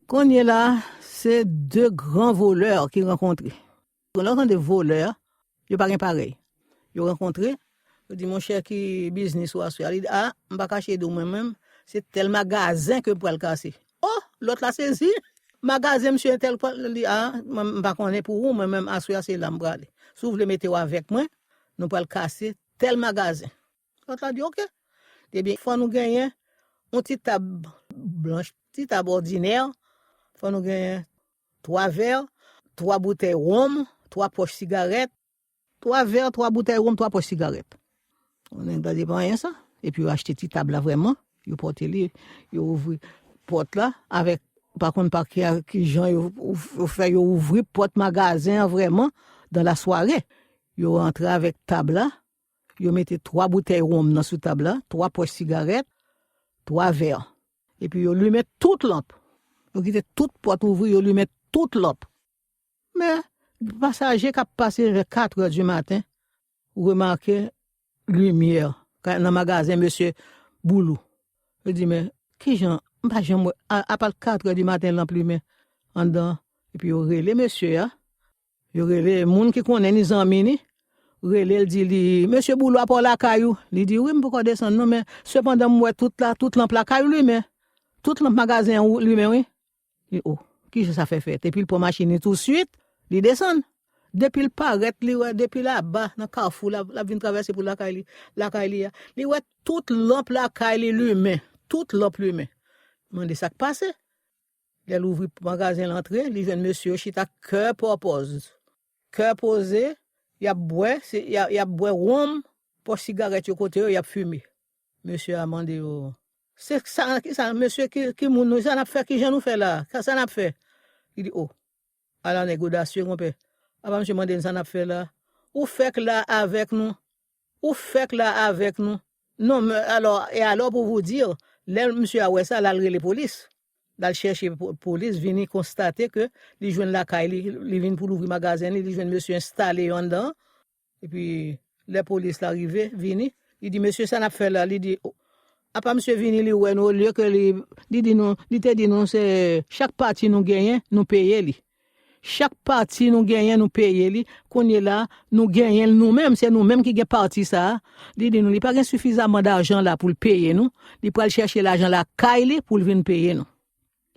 Konnye la se 2 gran voleur ki rankontre. Lè w tande voleur, yo pa gen parèy. Yo rankontre, yo di monchè ki biznis ou aswè a? Li di a, m pa kache di w mwen menm, se tèl magazen ke m pral kase. O! Lòt la sezi, magazen misye entèl pral, li di a, m pa konnen pou ou mwen menm aswè a se la m prale. Si w vle mete w avèk mwen, nou pral kase tèl magazen. Lòt la di ok. Li di fò nou genyen yon ti tab blanch, ti tab òdinè, fò nou genyen 3 vè, 3 boutèy wonm, 3 pòch sigarèt. 3 vè, 3 boutèy wonm, 3 pòch sigarèt. Nèg la di pa anyen sa. Epi yo achte ti tab la vrèman, yo pote li, yo ouvri pòt la avèk, pa konn pa ki jan yo fè yo ouvri pòt magazen an vrèman dan lasware. Yo antre avèk tab la, Yo mete 3 boutèy wonm nan sou tab la, 3 pòch sigarèt, 3 vè. Epi yo limen tout lanp. Yo kite tout pòt ouvri, yo limen tout lanp. Men, pasaje k ap pase vè katrè di maten remake limyè nan magazen mesye Boulou. Yo di, men, ki jan, m pa janm wè, apa l katrè di maten lanp limen anndan an? Epi yo rele mesye a, Yo rele moun ki konnen ni zanmi ni, rele l di li, Mesye Boulo a pa w lakay ou? Li di, Wi, m poko desann non, men, sepandan m wè tout la, tout lanp lakay ou limen. Tout lanp magazen ou limen wi. Li, O, ki jan sa fè fèt? Epi l pran machin li tousuit, li desann. Depi l parèt, li wè, depi laba, nan kafou, l ap vin travèse pou l lakay li, lakay li a, li wè tout lanp lakay li limen, tout lanp limen. Li mande sa k pase. Lè l ouvri pòt magazen l antre, li jwenn mesye yo chita kè pòpòz, kè poze, y ap bwè, y ap bwè wonm, pòch sigarèt yo kote yo, y ap fime. Mesye a mande yo, Se sa, ki sa, mesye, ki moun nou ye? Sa n ap fè, ki jan nou fè la a? Sa n ap fè? Li di, O! A la nèg odasye konpè. Apa misye mande n sa nap fè la. Ou fèk la avèk nou. Ou fèk la avèk nou. Non men alò e alò pou vou dir lè misye a wè sa lal rele polis. Lal chèche polis vini konstate ke li jwenn lakay li, li vin pou louvri magazen li, li jwenn mesye enstale yo anndan an. Epi lè polis la rive vini li di mesye sa nap fè la li di apa misye vini li wè nou olye ke li li di nou li te di nou se chak pati nou genyen nou peye li chak pati nou genyen nou peye li kounye la nou genyen l nou menm se nou menm ki gen pati sa li di nou li pa gen sifizaman dajan la pou l peye nou li pral chèche lajan lakay li pou l vin peye nou.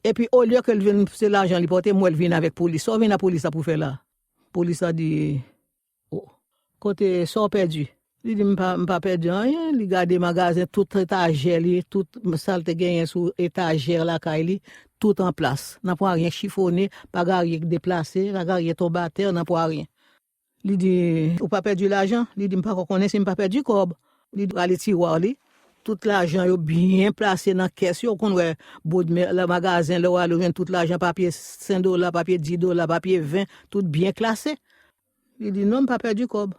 Epi olye ke l vin se lajan li pote m wè l vin avèk polis. Sa w vin apolis la pou fè la? Polis la di, O, kote sa w pèdi? Li di m pa m pa pèdi anyen, li gade magazen tout etajè li, tout sa l te genyen sou etajè lakay li, tout anplas. Nan pwa ryen chifone, pa gen anyen ki deplase, pa gen anyen tonbe atè, nan pwa ryen. Li di, Ou pa pèdi lajan? Li di, M pako konnen si m pa pèdi kòb. Li rale tiwa li, tout lajan yo byen plase nan kès yo. Ou konn wè bodmè, lè magazen, lè ou ale ou jwenn tout lajan, papye sen dola, papye di dola, papye ven, tout byen klase. Li di, Non, m pa pèdi kòb.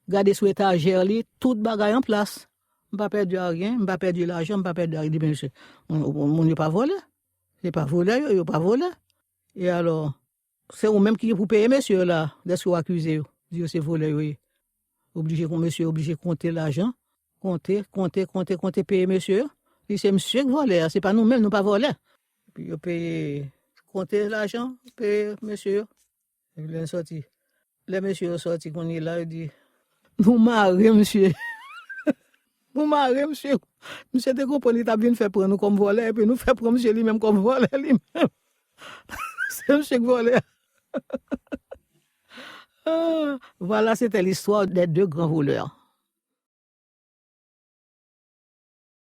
Gade sou etajè li, tout bagay an plas. M pa pèdi aryen, m pa pèdi lajan, m pa pèdi aryen. Li di, Men mesye, moun yo pa vòlè. Se pa volè yo, yo pa volè. E alò, Se ou menm ki gen pou peye mesye yo la deske w akize yo, di yo se volè yo ye. Oblije kon mesye oblije konte lajan, konte, konte, konte, konte peye mesye yo. Di se misye k vòlè a, se pa nou menm, nou pa vòlè. Epi yo peye, konte lajan, peye mesye yo. Epi lè n sòti, Lè mesye yo sòti kounye la yo di nou mare misye nou mare misye misye te konprann li tap vin fè pran nou kòm vòlè epi nou fè pran misye li menm kòm vòlè li menm se misye ki vòlè a Voilà c'était l'histoire des deux grands voleurs.